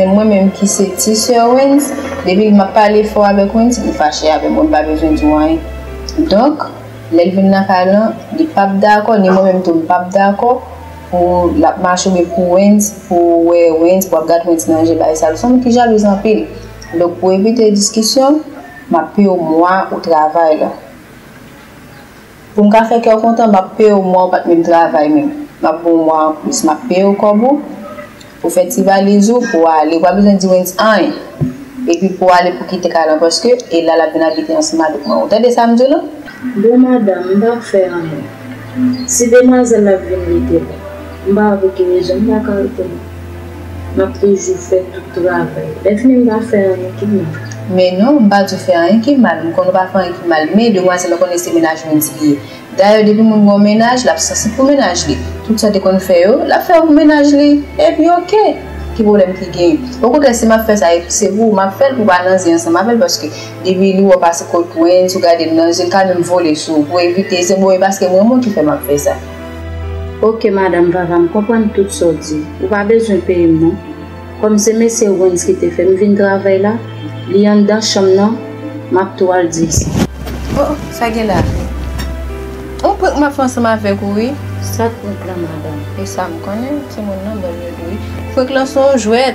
Men mwen menm ki se ti sè Wens, depi map pale fò avèk Wens, li fache avèm, Wens pa bezwen di w anyen. Donk, lè l vin nan kay lan, li pap dakò, ni mwen menm tou m pap dakò pou l ap mache oubyen pou Wens, pou w wè Wens, pou w ap gad Wens nan je bay sal. Ou se yon moun ki jalouz anpil. Donk pou evite diskisyon, map peye w mwa ou travay lan. Pou m ka fè kè w kontan, m ap peye w mwa w pa t menm travay menm. M ap ban w mwa anplis. M ap peye w kòb ou pou w fè ti valiz ou pou w ale. Ou pa bezwen di Wens anyen. Epi pou w ale pou w kite kay lan paske e la l ap vin abite ansanm avèk mwen. Ou tande sa m di w la? Bon madanm, m pa p fè anyen. Si demwazèl la vin li te bon. M pa wè pou ki rezon m pa ka reponn ou. Map toujou fè tout travay. Mèt men m pa fè anyen ki mal. Men non, m pa di w fè anyen ki mal. M konnen w pa fè anyen ki mal. Men demwazèl ou konnen se mennaj Wendy li ye. Dayè depi moun gen yon mennaj, lap sansib pou mennaj li. Tout sa te konn fè yo, lap fè yo pou mennaj li. Epi ok! Ki pwoblèm ki genyen? Okontrè si map fè sa e se pou ou, map fè l pou w pa nan zen ansanm avè l paske depi li wè w pase kot Wendy, ou gade l nan je, li ka menm vole sou ou pou evite. Se bon e paske m renmen w ki fè map fè sa. Ok madam vava m konprann tout sa w di ou pa bezwen peye m non kòm se mesye Wens ki te fè m vin travay la li anndan chanm nan m ap tou al di l sa. Oh oh sa gen la on prank m ap fè ansanm avèk ou wi. Sa prank la madam. Esam konnen timoun nan bòl yo tou wi. Prank lan son jwèt.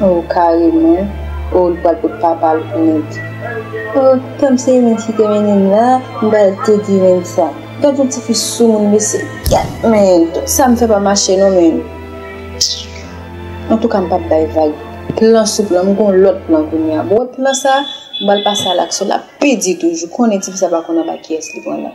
Oh kareman oh li pral pot papal pou Wendy oh tanm se Wendy ki te mennem la m pral tou di Wendy sa gad yon tifi soumoun mesye gad menn sa m fè pa mache non menn antouka m pap bay vag plan sou plan m gon lòt plan kounya bon wè plan sa m pral pase a laksyon lap pi di toujou konnen tifi sa pa konn anba kiyès li pran nan.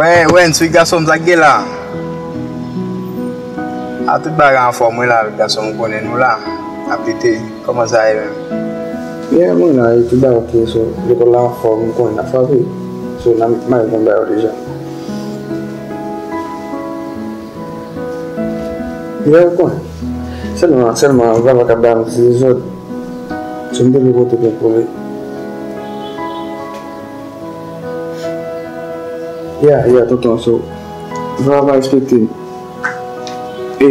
Wè wè nswi gasonm sak gen la a tout bagay anfòm wi la gasonm ou konnen nou la ap lite kòman sa ye menm byen mwen la wi tout bagay ok so lekòl la anfòm ou konnen nap frape so nan mare konn ba yo deja. Lè ou konnen. Sèlman, sèlman Vava ka ba m dezòd. Si m te gen kote pou m kole. Ya, ya tonton, so Vava pa respekte m. E.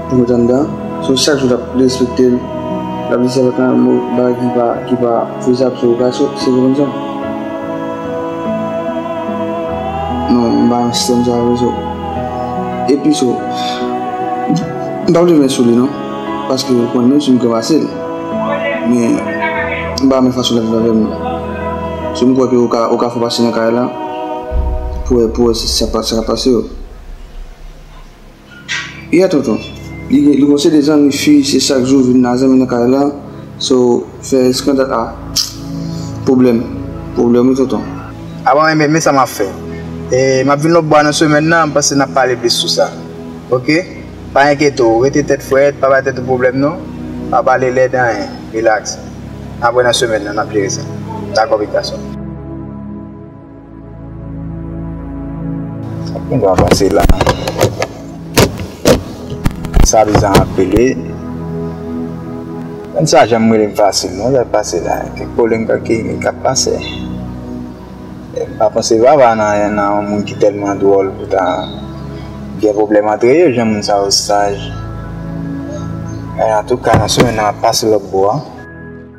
Pou mèt anndan, sou chak jou l ap respekte l, l ap di sèvant lan yon mo bagay ki pa fezab sou okasyon sikonzan. Non, m pa nan sistèm sa yo sou. Epi sou, m pa vle men sou li non, paske ou konn menm si m kranmase l, men m pa renmen fason l ap viv avè m nan. Sou m kwè ke ou ka fè w pase nan kay la pou wè si sa ka pase yo. Yeah tonton li gen yon seri de zanmi fi se chak jou vin nan zanmi nan kay la so fè eskandal ah pwoblèm pwoblèm wi tonton. Apa mwen menm men sa map fè eh map vin lòt bwa nan semèn nan m panse nap pale plis sou sa ok pa enkyete w rete tèt frèt pa bay tèt ou pwoblèm non pa pale lèd anyen relax apre nan semèn nan nap jere sa dakò pitit gason m. Anpil moun pase la. Sa visa an ap pele. Moun sa janm rele m fasil non lè l pase la. Kèk pwoblèm kèk keyimi k ap pase. M pa panse vava nan yon moun ki tèlman dwòl pou ta gen pwoblèm antre yo jan moun sa yo saj. Antouka nan semèn nan m ap pase lòtbò a.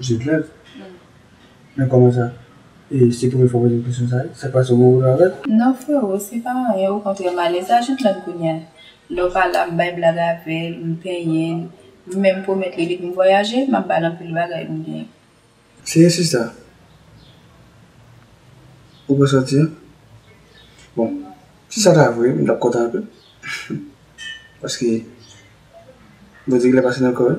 Jèn rèv? Men kòman sa? E se premye fwa w poze m kesyon sa wi? Sa k pase ou gen pwoblèm avè l? Non freo, se pa anyen okontrè m alèz a jèn rèv kounye a. Lè w pa la m bay blag avè l, m penyen l, m menm pwomèt li depi m vwayaje m ap ba l anpil bagay m genyen. Se yon sista? Ou pral sòti an? Bon, si sa ta vre m t ap kontan anpil paske Bondye gen lè pase nan kò yo.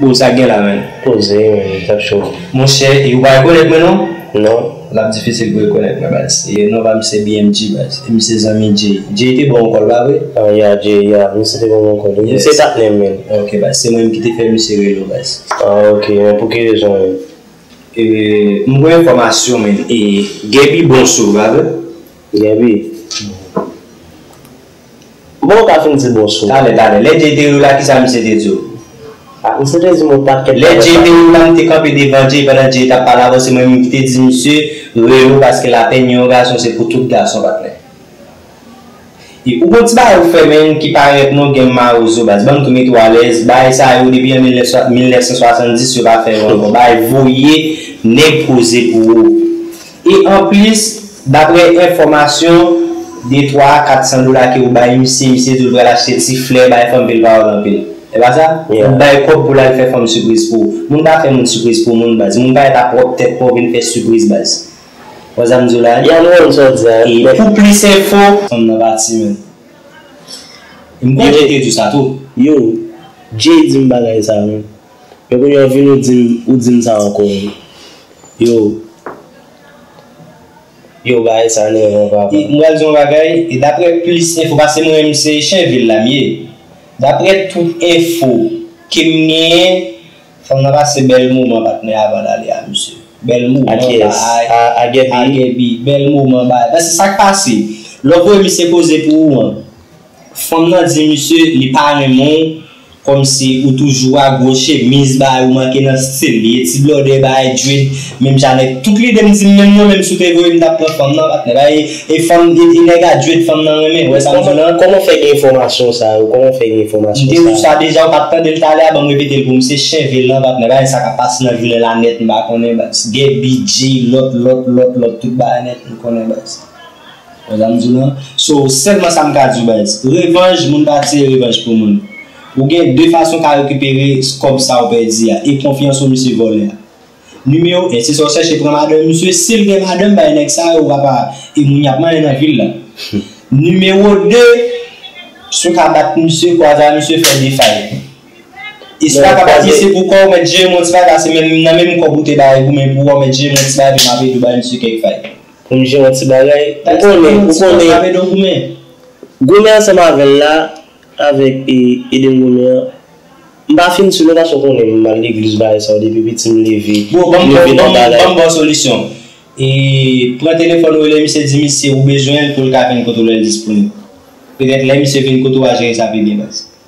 Bon sa gen la menm. Poze wi menm tap cho. Monchè e ou pa rekonèt mwen non? Non. Lap difisil pou rekonèt mwen baz. Non pam se BMG baz. E m se zanmi Jay. Jay te bawon kòl pa vre? Ah yeah Jay yeah misye te banm yon kòl wi. Misye tap nèm menm. Ok baz se mwen menm ki te fè misye rele w baz. Ah ok men pou ki rezon menm? M gen yon enfòmasyon menm e Gaby bon sou ou pa vre? Gaby? Kouman ou ka fin di bonswa? Talè, talè. Lè Jay te riw la, kisa misye te diw? Ah, misye te dim yon pakèt bagay Lè Jay te riw la, m te kanpe devan Jay pandan Jay tap pale avèw, se mwen menm ki te di misye, Relo paske lapèn yon gason se pou tout gason patnè. E ou gon ti bagay ou fè menn ki pa rèt non gen mawozo baz, banm tou mete w alèz, bagay sa yo depi an 1970 yo pa fè yo ankò, bagay voye nèg koze pou ou. E anplis, daprè enfòmasyon, de twa a kat san dola ke ou bay misye, misye di ou pral achte ti flè bay fanm ke l pa wè l anpil. E pa sa? Ou bay kòb pou l al fè fanm sipriz pou ou. Moun pa fè moun sipriz pou moun baz. Moun pa ret ap pwòp tèt pa w vin fè sipriz baz. Ou wè sa m di w la? Ya m konn sa w di a. E pou plis enfo. Fanm nan pa ti menn. E m konn Jay te di w sa tou. Yo, Jay di m bagay sa menm. Men kounya ou vini ou dim ou dim sa ankò wi yo yo bagay sa nève mwen papa. M pral di yon bagay e daprè plis enfo pase mwen menm se chen vil la m ye daprè tout enfo kem genyen fanm nan pase bèl moman patnè a avanl ale a misye bèl moman baay a gèbi bèl moman baay paske sak pase lè w voye misye koze pou ou an. Fanm nan di misye li pa renmen w komsi ou toujou a gwo chemiz bay ou manke nan stil li e ti blòdè bay dread menm jan nèg tout lidem dim menm non menm si w te voye m tap pran fanm nan patnè bay e fanm e nèg a dread fanm nan renmen wè sam di lan. Kòman w fè gen enfòmasyon sa yo kòman w fè gen enfòmasyon sa yo. M te di w sa deja ou pat tande l talè a banm repete l pou m se chen vil lan patnè bay sa kap pase nan jounen la nèt m pa konnen baz gè bgy lòt lòt lòt lòt tout bagay nèt m konnen baz. Wè sa m di w lan? So, sèlman sa m ka di w bay. Revanj, moun pa tire revanj pou moun. Ou gen 2 fason w ka rekipere kòb sa w pèdi a, e konfyanso misye vòlè a. Nimewo 1, se sa w chèche pran madanm misye, si l gen madanm bay nèg sa yo, w ap a e moun y ap manyen nan vil la. Nimewo 2, si w ka bat misye, kwaza misye fè defay. E si w pa ka bat misye pou kò, w mèt jere m on ti bagay, se menm nan menm kòb ou te ba li goumen pou wè, w mèt jere m on ti bagay epi m ap ede w bay misye kèk fay. Pou m di yon ti bagay, ou konnen, ou konnen, goumen ansanm avè l la, avèk Edem goumen an, m pa fin si non paske w konnen m al legliz bagay sa yo depi piti m leve, m leve nan bagay. Bon, ban m ba w solisyon. Pran telefòn ou rele misye di misye ou bezwen l pou l ka vin kote w lè l disponib. Petèt lè misye vin kote w a jere sa pi byen baz.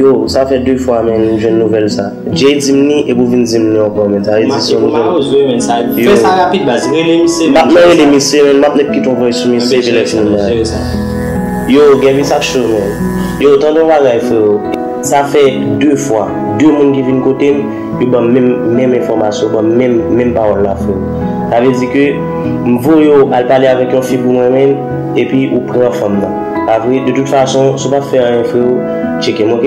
Yo sa fè 2 fwa menn m jwenn nouvèl sa. Jay di m li epi w vin di m li ankò menn sa vle di se yon nouvèl. Mache pou mayo zo menn sa. Fè sa rapid baz. Rele misye menn. M nan rele misye menn m ap met kite yon vòys sou misye epi lè fini m nan rele l. Yo Gèvi sa cho menn. Yo tande yon bagay freo. Sa fè 2 fwa. 2 moun ki vin kote m. Yo banm menm menm enfòmasyon, banm menm menm pawòl la frèm. Sa vle di ke m voye w al pale avèk yon fi pou mwen menm epi ou pran fanm nan. Pa vre? De tout fason, si w pa fè anyen freo, tcheke m ok?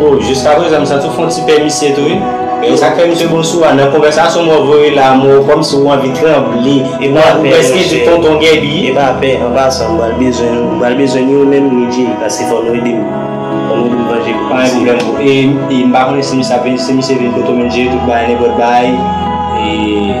Bon jiska prezan m santi w fon ti pè misye tou wi e sak fè misye bon sou a nan konvèsasyon mwen voye la m wè w kòm si w anvi tranble ou prèske di tonton gèbi. Epa pè an pasan m pral bezwen nou m pral bezwen ni ou menm ni Jay paske fò nou ede m fò nou ede m vanje kout misye. Pa gen pwoblèm bro e m pa konnen si misye ap vini si misye vini kote w menm Jay tout bagay nenpòt bagay e.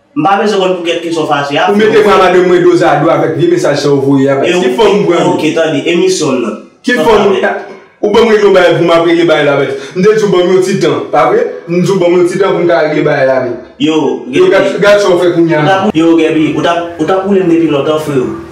M pa bezwen konn pou kèk kesyon fache a. Ou mete bra madanm mwen dozado avèk vye mesaj sa ou voye a bay. Ki fanm ou pran? Ok tande emisyon nan. Ki fanm ou pran? Ou banm regle yon bagay pou map regle bagay la avèl. M te di ou banm yon ti tan, pa vre? M di ou banm yon ti tan pou m ka regle bagay la avèl. Yo Gaby. Yo gad sa ou fè kounya. Yo Gaby, ou tap ou tap woule m depi lontan freo.